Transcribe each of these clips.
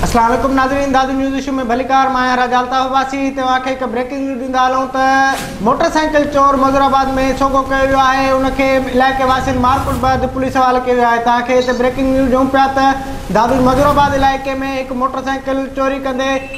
اسلام عليڪم ناظرين دادو نيوز ايشو ۾ ڀليڪار مان آهيان راجا الطاف عباسي توهان کي هڪ بريڪنگ نيوز ڏيندا هلون ته موٽر سائيڪل چور مظهر آباد ۾ سوگهو ڪيو ويو آهي ان کي علائقي واسين مارڪٽ بعد پوليس حوالي ڪيو ويو آهي توهان کي هتي بريڪنگ نيوز ڏيون پيا ته دادو مظهر آباد علائقي ۾ هڪ موٽر سائيڪل چوري ڪندي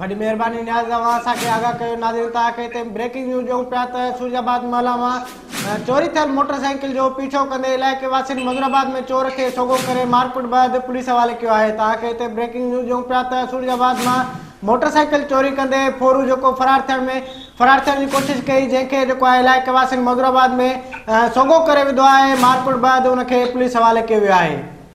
وڏي مهرباني نياز اوهان اسان کي آگاهه ڪيو ناظرين توهان کي هتي بريڪنگ نيوز ڏيون پيا ته سورج آباد محلا مان چوري ٿيل موٽر سائيڪل جو پيڇو ڪندي علائقي واسين منظور آباد ۾ چور کي سوگهو ڪري مارڪٽ بعد پوليس حوالي ڪيو آهي توهان کي هتي بريڪنگ نيوز ڏيون پيا ته سورج آباد مان موٽر سائيڪل چوري ڪندي ڦورو جيڪو فرار ٿيڻ ۾ فرار ٿيڻ جي ڪوشش ڪئي جنهن کي جيڪو آهي علائقي واسين منظور آباد ۾ سوگهو ڪري وڌو آهي مارڪٽ بعد ان کي پوليس حوالي ڪيو ويو آهي